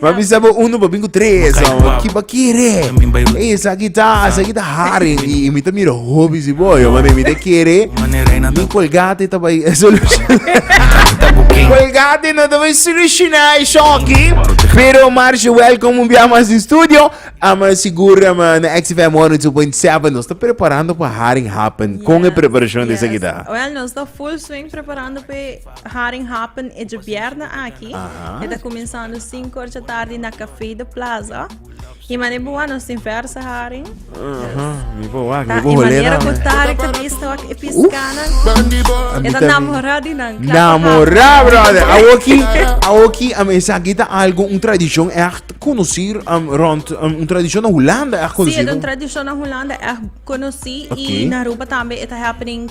Ma bisa bo uno pa bin ku tres hombre. Ki pa kere. Ey esaki ta, esaki ta haring. Y mi ta mira hopi si bo yo mane. Mi ta kere. Mi colgate ta bay soluciona. Colgate no ta bay soluciona e shoki. Pero Marsh, welcome un bia mas in studio. Ama segura ma na XFM 102.7 nos ta preparando pa haring happen. Con e preparacion di esaki ta. Well, nos ta full swing preparando pe. Haring happen e djebièrnè aki. E ta kuminsando sinku or dje tardi na Café de Plaza. I manera bo wak, nos tin verse haring. Mi bo wak, mi bo I holé manera nan. bo Tarek ta bisa wak e piskana. E ta namorá di nan. Klap pa Namorá, haring. brother. Awoki, awoki, am, esaki ta algu, un tradishon ègt konosí, am, rònt, am, un tradishon na Hulanda ègt Si, e ta konosí. un tradishon na Hulanda ègt konosí. Oké. I na Aruba tambe e ta happening.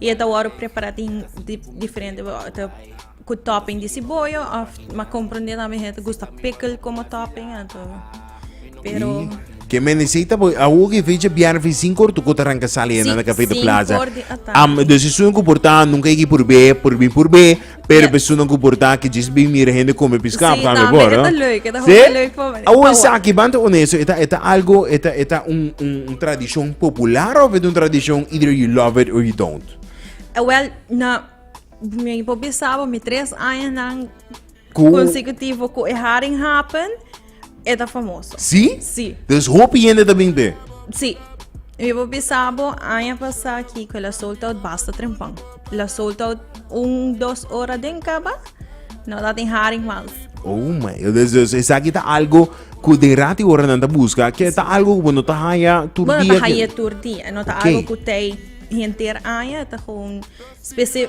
Y e ta wòrdu prepará tin diferente ku topping di siboyo of ma komprendé tambe hende ta gusta pickle komo topping anto pero Ke mendisei ta boi awo ke fecha biar fi sin kor tu kota ranka sali na kafe de plaza. Am de seizoen ku porta nunka iki purbe, purbi purbe. Pero personanan ku por ta aki djis bin mira hende kome piskal Sí, pa kami no, bor. mira, no? ta leuk, e ta Sí? hopi leuk pa mi. Awo Tawa. esaki, banta honesto, eta eta algo, eta eta un un un tradishon popular of eta un tradishon either you love it or you don't? Eh, Wel, na, mi por bisa bo, mi tres añanan Ku- consecutivo ku e haring happen. E ta famoso. Sí? Sí. Dus hopi hende ta bin be. Sí. Mi bo bisabo aña pasá aquí que la sold out basta trempan. La sold out un, dos hora den caba, no dat in haring mas. Oh my, dus, dus esa aquí ta algo cu den rati hora nan ta busca, que ta algo cu no ta haya tur Bueno, dia. ta haya tur dia, no ta Oké. algo cu tei henter aña, ta gewoon specie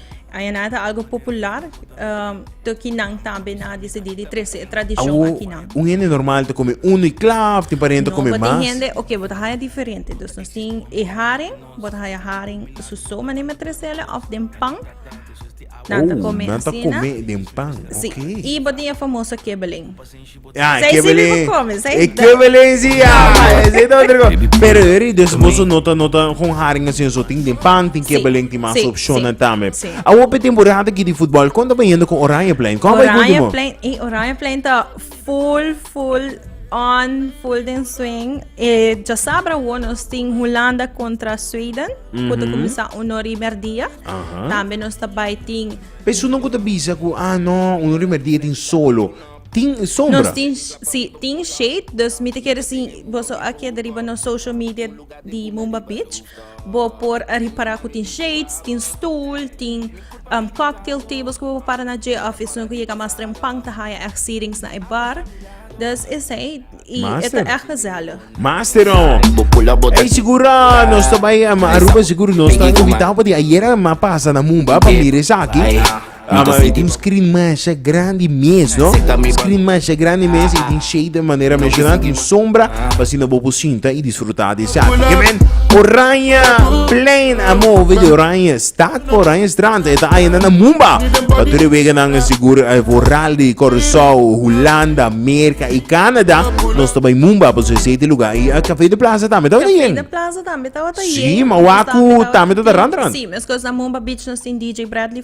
Ayan'a ta algo popular, um, toki nan tambe na decidi di trece e tradicion Awo, aki nan. un hende normal te come uno y klaar, tin pariente No, come but mas. hende, ok, but haya diferente. Dus nos tin e haring, but haya haring su so mane me trecele of den pan. Nan ta Oh, come nan ta asina. come den pan, Si, oké. y but tin e famoso kibbeling. Ah, Zij Kevin. Silly Voorkomens, hij Eh, da- Kevin Lindsay, ja, hij zit ook er gewoon. Pero Harry, dus bosso nota, nota, gewoon haringen zijn zo ting den pan, ting Sí, Kevin Lindsay, ting mas sí, option sí, tambe. sí. A hope temporada die die voetbal, kon dat benieuwd kon Oranje plein, kon bij Oranje Goedemon. Plein, eh, Oranje Plein ta full, full on, full den swing. Eh, ja sabra wo nos tin Holanda contra Sweden, mm kutu kumisa uno rimer dia. Aha. Tambe nos ta bai tin Pesu no kuta bisa ku, ah no, un rimer die tin solo. Tin sombra. Nos tin, si, tin shade, dus mi te kere si boso a keda riba nos social media di Mumba Beach, bo por a ripara ku tin shades, tin stool, tin um, cocktail tables ku bo para na dje of esun ku yega mas trempang ta haya echt seatings na e bar. Dus esei, i e ta echt gezellig. Master on. Ei segura nos ta bai um, Aruba seguro nos ta invitado pa di ayera ma pasa na Mumba pa mira esaki. Mi ta sinti un screen masha grandi mes no un screen masha grandi mes y tin shade de manera mencionada tin sombra pa asina bo por sinta y disfruta di esa arte men oranje plein a move di oranje stad pa oranje strand e ta ayina na mumba pa tur e weganan a sigur e vooral di Curaçao Hulanda Merca y Canada nos ta bay mumba pasobra esey ta e lugar y cafe de plaza tambe tabata yen Café de Plaza tambe tabata yen. si ma waku tambe ta ta ran ran. Sí, mescos na Mumba Beach nos tin DJ Bradley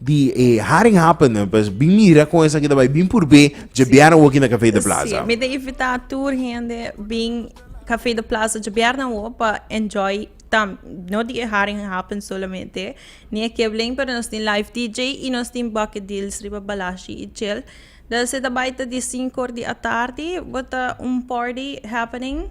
di e Haring Happen nan pues bin mira con esaki ta bai bin purbé dje biernan wok na Café de Plaza. Sí, mi ta invita tur hende bin Café de Plaza dje biernan wok pa enjoy tam no di e Haring Happen solamente ni e Kibling pero nos tin live DJ y nos tin bucket deals riba Balashi y Chel. Dal si ta bai ta di sinku or di atardi bo ta un party happening.